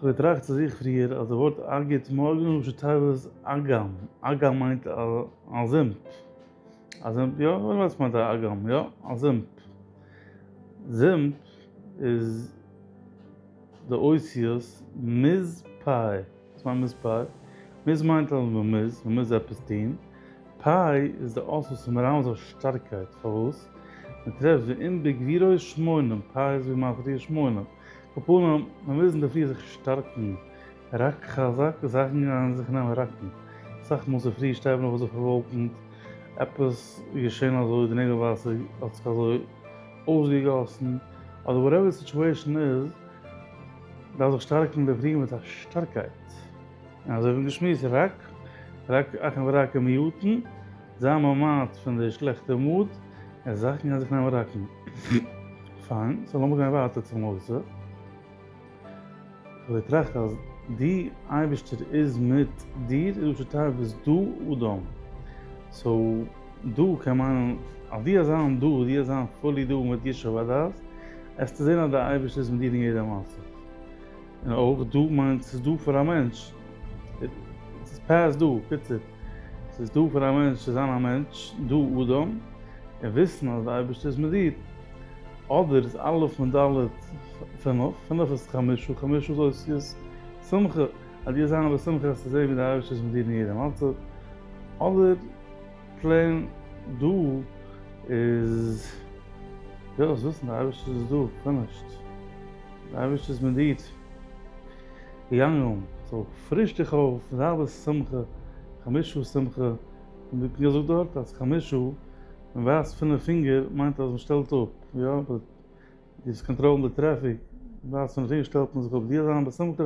כ'האב געטראכט צו זיך פריער אז די ווארט אגית מארגן איז ראשי תיבות אגם, אגם מיינט א זומפ, א זומפ יא? ווער ווייסט מיינט א אגם יא? א זומפ, זומפ איז די אותיות מז פ, וואס מיינט מז פ? מז מיינט אז מען מוז, מען מוז עפעס טון, פ איז די אות וואס איז מרמז אויף שטארקייט, פארוואס? מען טרעפט ואם בגבירוי שמונים, פ איז ווי מיין פריער שמונים. קאפאלן, מיר מוזן דערפאר זיך שטארקן, רק חזק, זאכן גייען זיך נעמען ראקן, סאך מאל צופרי שטייט מען אויף זיך פארוואלקנט, עפעס איז געשען אזוי, די נעגל וואסער האט זיך אזוי אויסגעגאסן, אדער וואטעווער די סיטואשען איז, דארף זיך שטארקן דערפאר מיט א שטארקייט, און אזוי ווי געשמועסט, רק רק אכן ורק אמיתן, זיין ממעט פון די שלעכטע מוט, און זאכן גייען זיך נעמען ראקן. פיין, סאו לאמיר גיין ווייטער צום נושא. כ'האב געטראכט אז די אייבערשטער איז מיט דיר און דו שטארבסט דא אדם. סאו דא קען מיינען אז דו האסט זיין דא, דו האסט זיין פולי דא מיט ישוב הדעת, עסטו זען אז די אייבערשטער איז מיט דיר אין יעדע מצב. און אויך דא מיינט ס'איז דא פאר א מענטש, ס'איז פאסט דא, קיצור, ס'איז דא פאר א מענטש צו זיין א מענטש, דו אדם, און וויסן אז די אייבערשטער איז מיט דיר. אדער איז א' און ד' פינף, פינף איז חמשה, חמשה איז אותיות שמחה, אז דו זיין בשמחה וועסטו זען ווי די אייבערשטער איז מיט דיר אין יעדע מצב, אדער. פלעין דא איז וויל איך וויסן די אייבערשטער איז דא פארנישט די אייבערשטער איז מיט דיר געגאנגען סאו פריש דיך אויף מיט האלבע שמחה חמשה שמחה און ווי כ'האב געזאגט דארט אז חמשה מען ווייזט פינף פינגער מיינט אז מען שטעלט אפ יא באט דאס קאנטראלן די טרעפיק ווייזט פינף פינגער שטעלט מען זיך אפ דיר זיין בשמחה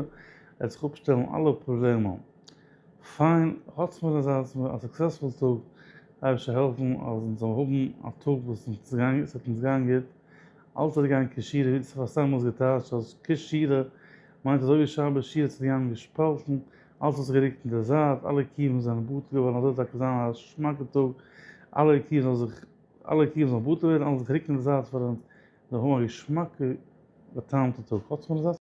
עט זיך אפשטעלן אלע פראבלעמען. פיין, האטס מיר אזא סוקסעספול טאג, אייבערשטער זאל העלפן אז אונז זאלן האבן א טאג וואס עס וועט אונז גיין גוט, אלץ וועט גיין כשיר, ווי דאס האט פאר'סתם אלס געטייטשט אז כשירע מיינט אזוי ווי שבת שירע צו גיין געשפאלטן, אלץ האט זיך גערוקט אין די זייט, אלע קיווען זענען בטל געווארן, אזוי זאל טאקע זיין א שמאקע טאג, אלע קיווען זאל זיך, אלע קיווען זאלן בטל ווערן, אלץ זיך רוקן אין די זייט פאר אונז זאל האבן א געשמאקע בא'טעמ'טע טאג, האטס מיר אזא.